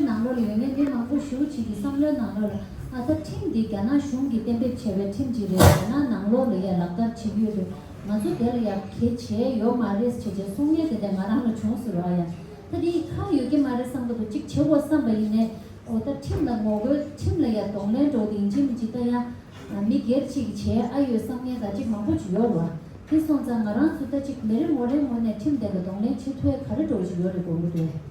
ཁྲིམས་ནང་ལོགས་ཡོད་ངན་འབྲེལ་མང་པོ་ཞུ་བྱེད་ཀྱི་བསམ་བློའི་ནང་ལོགས་ལ་ཨ་ད་ཁྲིམས་འདི་རྒྱ་ནག་གཞུང་གིས་གཏན་འབེབས་བྱས་པའི་ཁྲིམས་ཅིག་རེད་རྒྱ་ནག་ནང་ལོགས་ལ་ཡང་ལག་བསྟར་བྱེད་ཀྱི་ཡོད་པས་ང་ཚོ་དེར་ཡར་གྱེས་བྱས་ཡོད་མ་རེད་ཞེས་བྱས་གསུང་ཉན་དེ་འདྲ་ང་རང་ལ་བྱུང་ཟེར་བ་ཨ་ཡང་ད་དེ་ཡི་ཁ་ཡོད་ཀྱི་མ་རེད་བསམ་ག་འདུག་ཅིག་བྱེད་དགོས་བསམ་པ་ཡིན་ནས་ཨོ་ད་ཁྲིམས་ལ་ངོ་རྒོལ་ཁྲིམས་ལ་ཡར་གདོང་ལེན་འགྲོ་དེ་ཡིན་ཕྱིན་ཅི་ད་ཡང་མི་སྒེར་ཅིག་གིས་བྱས་ཨ་ཡོད་བསམ་ངན་ད་ཅིག་མང་པོ་བྱེད་ཡོད་རེད་དེ་སོང་ཙང་ང་རང་ཚོ་ད་ཅིག་མི་རེ་ངོ་རེའི་ངོ་ནས་ཁྲིམས་དེ་ལ་གདོང་ལེན་བྱེད་ཐུ་ཨེ་ག་རེ་འགྲོ་བཞིན་ཡོད་རེད་དགོས་མཁོ་འདུག།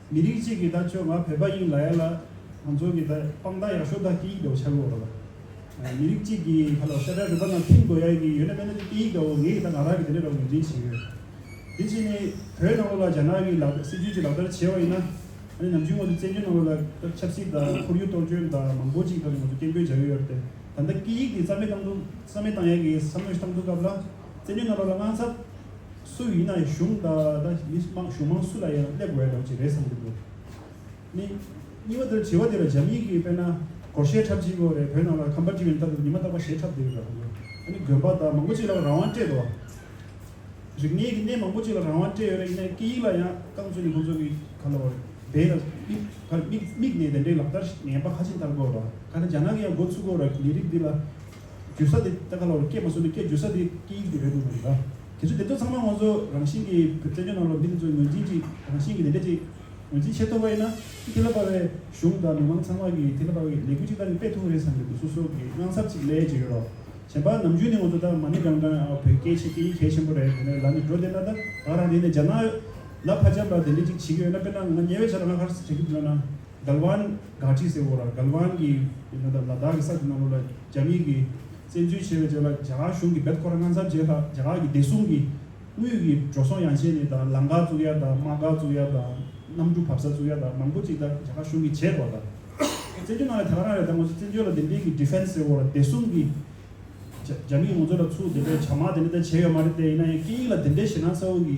མི་རིགས་གཅིག་གི་ད་ཁྱོད་ང་བོད་པ་ཡིན་ལ་ཡ་ལ་ང་ཚོ་གི་ད་སྤང་ད་ཡག་ཤོ་ད་སྐད་ཡིག་ད་བོ་ཆ་གི་འོག་ལ་ད་མི་རིགས་གཅིག་གི་ཁ་ལ་ཤ་ཏྲ་རི་པ་ན་ཐིམ་དགོས་ཡ་གི་ཡོད་ན་མེད་ན་ད་སྐད་ཡིག་ད་བོ་ངའི་གི་ད་ང་རང་གི་དེ་འདྲ་ར་བོ་ངོས་འཛིན་བྱེད་ཡོད། དེ་བྱས་ནས་བོད་ནང་ལོ་ལ་རྒྱ་ནག་གི་ལག་བསྟར་སྲིད་ཇུས་ཀྱི་ལག་བསྟར་བྱས་བ་ཡིན་ན་ཨ་ནི་ནམ་རྒྱུན་ངོ་ཚོ་བཙན་བྱོལ་ནང་ལོ་ལ་ད་ཆབ་སྲིད་ད་ཁོར་ཡུག་གཏོར་སྐྱོན་ད་མང་པོ་ཅིག་ད་ངོ་ཚོ་སྐད་འབོད་བྱ་ཡོད་ཡོད་རེད་ད་ད་སྐད་ཡིག་གི་རྩ་མེད་བཏང་འདུག་རྩ་མེད་བཏང་ཡ་གི་བསམ་བློ་ཞིག་བཏང་འདུག་སྐབས་ལ་བཙན་བྱོལ་ནང་ལོ་ལ་དངངས་ཚབ། སུ་ཡིན་ན་གཞུང་ད་ལྟ་མི་དམངས་གཞུང་མང་སུ་ལ་ཡང་སླེབས་འོས་ལོག་ཅིག་རེད་བསམ་གྱི་འདུག་ནི། གཉིས་པ་འདིར་དྲི་བ་འདི་ལ་འཇམ་དབྱིངས་ཀྱིས་དཔེར་ན་གོར་ཞེས་འཁྲབ་ཅིག་གོ་རེ་བོད་ནང་ལ་ཁམས་པ་འདྲི་བའི་མཐར་ཉི་མ་རྟག་པ་ཞེས་འཁྲབ་འདིར་རང་ལུགས་ནི་དགོན་པ་དག་མང་པོ་ཅིག་ལ་རང་དབང་སྤྲད་འདུག་རིག་གནས་ཀྱི་གནས་མང་པོ་ཅིག་ལ་རང་དབང་སྤྲད་ཡོད་རེད་ཡིན་ན་སྐད་ཡིག་ལ་ཡང་རྐང་བཙུགས་ནས་ཁོང་ཚོ་གི་ག་ལ་བར་དེ་ལ་དམིགས་དམིགས་དམིགས་ནས་དེ་འདྲའི་ལག་བསྟར་ངན་པ་ཧ་ཅིང་ལྟར་དགོས་ར་ཁ་ན་རྒྱ་ནག་གི་ཡང་འགོ་ཚུགས་གོ་ར་ལས་རིགས་འདི་ལ་རྒྱུད་ས་དེ་ལྟ་ག་ལ་བར་སྐད་མ་བཟོ་ནས་སྐད་རྒྱུད་ས་དེ་སྐད་ཡིག་དེ་རེད་འདུག་མ་རེད་ག། དེ་ཚོ་དེ་ཚོ་ཚང་མ་ང་ཚོ་རང་བཞིན་གྱིས་བོད་བཙན་བྱོལ་ནང་ལོག་མི་དེ་ཚོ་ངོས་འཛིན་གྱི་རང་བཞིན་གྱི་ལས་འབྲས་ཅིག་ངོས་འཛིན་བྱེད་ཐུབ་པ་ཡིན་ན་ཁྱི་ཐི་ལ་པ་བའི་གཞུང་དང་མི་མང་ཚང་མ་གིས་ཐི་ལ་པ་བའི་ལས་འགུལ་ཅིག་ད་ནི་སྤེལ་ཐུབ་ངེས་རེད་བསམ་པའི་འདུ་ཚོགས་སོགས་ཀྱི་དངངས་འཚབ་ཅིག་ལས་ཅི་ཡོད་རོགས་གཞན་པ་ནམ་རྒྱུན་ནི་ང་ཚོ་ད་མ་ཎི་སྒང་དྲང་ཨའོ་བོད་སྐད་ཤེས་ཀྱི་ཡིད་གལ་ཆེན་པོ་རེད་དེ་ནས་ལ་ནི་འགྲོ་བསྡད་ན་ད་ང་རང་རིང་ནས་འཇགས་ན་ཡོད་ལབ་ཕ་འཇམ་ལ་དེ་འདྲས་ཅིག་བྱེད་ཀྱི་ཡོད་ན་དཔེར་ན་ང་ཉེ་བའི་ཆ་ལ་ང་ཧར་སི་བྱ་རྒྱུ་འདི་ལ་ན་གལ་ཝན་གྷ་ཏྲི་ཟེར་བོ་ར་གལ་ཝན་གྱི་ཡིན་ན་ད་ལ་དྭགས་ཀྱི་ས་དེ་ནང་ལོག་ལ་རྒྱ་མིའི་གི། བཙན་འཛུལ་བྱས་པའི་རྗེས་ལ་རྒྱ་གར་གཞུང་གིས་བེད་ཁོ་ར་ངྷ་ཚབ་རྗེས་ལྷག་རྒྱ་གར་གྱི་བདེ་སྲུང་གིས་དངུལ་གྱི་འགྲོ་སོང་ཡང་བྱས་ནས་དང་བླངས་འགག་བཙུགས་ཡ་དང་དམག་འགག་བཙུགས་ཡ་དང་གནམ་གྲུ་བབས་ས་བཙུགས་ཡ་དང་མང་པོ་ཅིག་དང་རྒྱ་གར་གཞུང་གིས་བྱས་དགོས་དང། བཙན་འཛུལ་གནང་བའི་ཐད་ཀར་རང་རེ་ད་ངོ་ཚོས་བཙན་འཛུལ་ལ་དེ་འབྲེལ་གྱི Defense ཟེར་བ་ལ་བདེ་སྲུང་གི་རྒྱ་རྒྱ་མིས་ངོ་ཚོས་ལ་ཚུགས་དེ་འདྲའི་བྱ་དམག་དེ་འདྲ་ད་བྱས་ཡོད་མ་རེད་དེ་ཡིན་ན་ཡང་སྐད་ཡིག་ལ་དེ་འདྲའི་ཞེད་སྣང་ས་འོག་གི་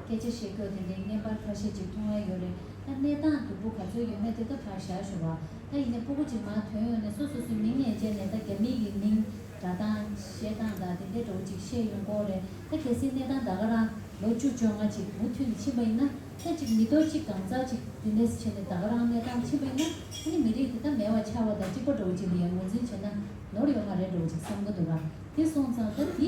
སྐད་ཆ་བཤད་ཕྱོགས་དེ་འདྲའི་བརྙན་པར་ཁ་ཤས་ཅིག་མཐོང་བས་ཡོད་རེད་ད་གནས་སྟངས་དོད་པོ་ག་ཚོད་ཡོད་མེད་དེ་ད་བར་བཞག་ཞུ་བ། ད་ཡིན་ནས་སྤོ་སྒོ་ཅིག་མང་དོན་ཡོང་ནས་སོ་སོ་སུའི་མིང་ངས་བཅད་ནས་ད་རྒྱ་མིའི་གི་མིང་གྲ་སྟངས་བཤད་སྟངས་དང་དེ་འདྲའི་འདྲ་བོ་ཅིག་བཤད་ཡོང་སྐོར་རེད་ད་གལ་སྲིད་གནས་སྟངས་ད་ག་རང་ལོ་བཅུ་བཅོ་ལྔ་ཅིག་མུ་མཐུད་ནས་ཕྱིན་པ་ཡིན་ན་ཐེངས་གཅིག་མི་ལྡོག་གཅིག་གང་ཟག་ཅིག་འདི་འདྲས་བྱས་ནས་ད་ག་རང་གནས་སྟངས་ཕྱིན་པ་ཡིན་ན་ད་ནི་མི་རིགས་དེ་ད་མེད་བ་ཆགས་བ་དང་གཅིག་པ་འདྲ་བོ་ཅིག་ལ་ཡང་ངོས་འཛིན་བྱས་ན་ནོར་ཡོང་བ་རེད་འདྲ་བོ་ཅིག་བསམ་གོ་འདུག་ག་དེ་སོང་ཙང་ད་འདི་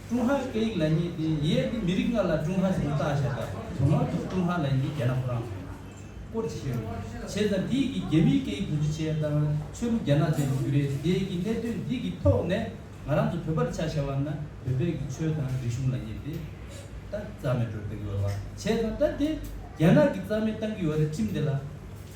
ཀྲུང་ཧྭའི་སྐད་ཡིག་ལེགས་ཉེས་དེ་ཡས་ཀྱི་མི་རིགས་ལྔ་ལ་ཀྲུང་ཧྭ་ཞེས་བཏགས་བྱས་པ་དོན་དངོས་ཐོག་ཀྲུང་ཧྭ་ལེགས་ཉེས་རྒྱལ་ནག་ཕོ་རང་ཚོ་ཡིན། སྐོར་ཅི་ཞིག་རེད། བྱས་ཙང་འདི་ཡིག་གི་རྒྱ་མིའི་སྐད་ཡིག་དོན་ཅི་བྱས་དང་ཆོས་ལུགས་རྒྱ་ནག་ཅན་གྱི་རྒྱུ་རེད་དེ་ཡས་ཀྱི་གནད་དོན་འདི་ཡིག་ཐོག་ནས་ང་རང་ཚོ་བོད་པར་ཆ་བྱས་བ་ན་བོད་པས་ཀྱི་ཆོས་དང་རིག་གཞུང་ལ་ཉེས་ཏེ། ད་རྩ་མེད་འགྲོ་བསྡད་ཀྱི་ཡོད་བ་བྱས་ཙང་ད་དེ་རྒྱ་ནག་གི་རྩ་མེད་བཏང་གི་ཡོད་རེད་ཁྲིམས་དེ་ལ།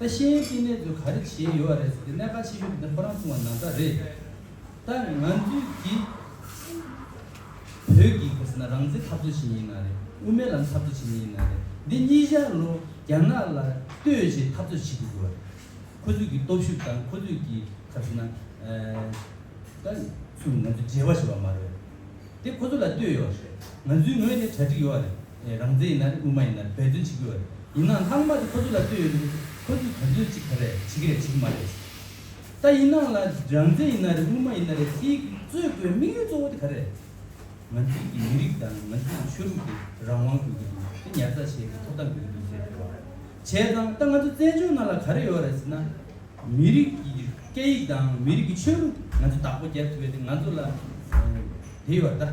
ད་ཤེས་ཡོན་བསྟི་གནས་ཚོས་ག་རེ་བྱས་ཡོད་རེད་ཟེར་ཏེ་གནད་ཁ་ཆེ་ཤོས་དེ་འདི་ཁོ་རང་ཚུགས་པ་ན་ཚ་རེད། ད་ང་ཚོའི་དེ་བོད་ཀྱི་གོ་ས་ན་རང་བཙན་འཐབ་རྩོད་བྱེད་མྱི་ཡིན་ན་རེད་དབུ་མའི་ལམ་འཐབ་རྩོད་བྱེད་མྱི་ཡིན་ན་རེད་འདི་གཉིས་ཤར་ལོ་རྒྱ་ནག་ལ་ལྟོས་བྱེད་འཐབ་རྩོད་བྱེད་དགོས་དགོས་རེད། ཁོ་ཚོས་ཀྱི་སྟོབས་ཤུགས་དང་ཁོ་ཚོས་ཀྱི་ཁ་བྱེད་ན་ད་ཚུགས་ང་ཚོས་འབྲེལ་བ་བྱེད་པ་མ་རེད་དེ་ཁོ་ཚོ་ལ་ལྟོས་ཡོད་རེད་ང་ཚོའི་ངོས་ནས་གྲ་སྒྲིག་ཡོད་རེད། རང་བཙན་ཡིན་ན་རེད་དབུ་མ་ཡིན་ན་རེད་འབད་བརྩོན་བྱེད་ཀྱི་ཡོད་རེད། ཡིན་ནའང་ལྷག་མ་དེ་ཁོ་ཚོ་ལ་ལྟོས་ཡོད་ཀྱི་རེད། ཁོ་ཚོས་ག་ཚོད་ཅིག་ག་རེ་བྱེད་ཀྱི་རེད་བྱེད་ཀྱི་མ་རེད། ད་ཡིན་ནའང་ལ་རང་བཙན་ཡིན་ན་རེད་དབུ་མ་ཡིན་ན་རེད་དེའི་གཙོས་དགོས་དམིགས་ཡུལ་གཙོ་བོ་དེ་ག་རེ་རེད། ང་ཚོའི་གི་མི་རིགས་དང་ང་ཚོའི་གི་ཆོས་ལུགས་དེ་རང་དབང་དགོས་ཀྱི་འདུག་དེ་ཉར་ཚགས་བྱས་ཏེ་ཐོབ་ཐང་དགོས་ཀྱི་འདུག་ཟེར་ཡོད་རེད། བྱས་ཙང་ད་ང་ཚོ་བཙན་བྱོལ་ནང་ལ་ག་རེ་ཡོད་རེད་ཟེར་ན། མི་རིགས་ཀྱི་སྐད་ཡིག་དང་མི་རིགས་ཀྱི་ཆོས་ལུགས་ང་ཚོས་བདག་པོ་རྒྱབ་ཐུབ་པའི་དེ་ང་ཚོ་ལ་དེ་ཡོད་རེད་ད།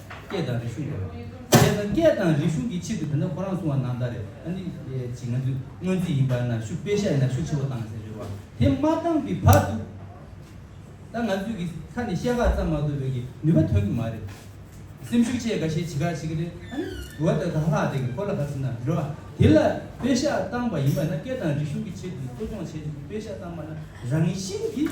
སྐད་དང་རིག་གཞུང་དེ་རང་རེད་ད་སྐད་དང་རིག་གཞུང་གི་ཆེད་དུ་དེ་འདྲ་ཁོ་རང་གསུང་བ་ནང་ད་རེད་ད་ནི་ཅིག་ང་ཚོས་སྔོན་རྩིས་ཡིན་པར་ན་ཞུ་དཔེ་ཤ་ཡིན་ན་ཞུ་ཆེ་བོ་བཏང་ཟེར་ཞོར་བ་དེ་མ་བཏང་བའི་བར་དུ་ད་ང་ཚོས་ཀྱི་ཁ་ནས་བཤད་ཁག་ཙམ་མ་གཏོགས་པའི་ཀྱི་ནུས་པ་ཐོན་གི་མ་རེད། སེམས་ཤུགས་ཆེ་ག་ཤེད་བྱེད་ག་བྱེད་ཀྱི་རེད་ད་ནི་འོ་ད་ག་ལྷག་དེ་གི་ཁོ་ལ་ག་ཟེར་ན་རེད་བ་དེ་ལ་དཔེ་ཤ་བཏང་བ་ཡིན་པར་ན་སྐད་དང་རིག་གཞུང་གི་ཆེད་དུ་གསོ་སྦྱོང་བྱས་ཏེ་དཔེ་ཤ་བཏང་བ་ན་རང་ཡིན་ཤིན་གྱི།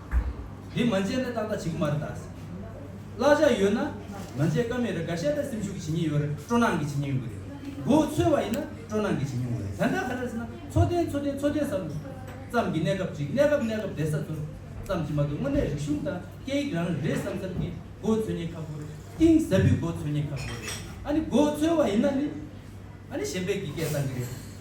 དེ་མ་མཇལ་ན་ཏག་ཏག་བྱེད་ཀྱི་མ་རེད་ད། བླ་གཞག་ཡོད་ན་མ་མཇལ་ཀ་མེད་རེད་ག་ཤེད་ད་སེམས་ཤུགས་ཀྱི་བྱེད་ཉེས་ཡོད་རེད་སྤྲོ་སྣང་གི་བྱེད་ཉེས་ཡོད་གི་རེད། མགོ་བོ་ཚོས་བ་ཡིན་ན་སྤྲོ་སྣང་གི་བྱེད་ཉེས་ཡོད་རེད་ད་ལྟ་ག་རེད་ཟེར་ན་འཚོ་རྟེན་འཚོ་རྟེན་འཚོ་རྟེན་ཟ་ལུགས་ཙམ་གྱི་གནས་སྐབས་ཅིག་གནས་སྐབས་གནས་སྐབས་བསྡད་ས་ཚོར་ཙམ་གྱི་མ་གཏོགས་དངོས་གནས་རིག་གཞུང་དང་སྐད་ཡིག་རང་རེད་བསམ་བསམ་གྱི་མགོ་བོ་ཚོས་ཉེས་ཁག་པོ་རེད་གཏིང་ཟབ་པོའི་མགོ་བོ་ཚོས་ཉེས་ཁག་པོ་རེད་ཨ་ནི་མགོ་བོ་ཚོས་བ་ཡིན་ན་ནི་ཨ་ནི་གཞན་པའི་གི་སྐད་བཏང་གི་རེད།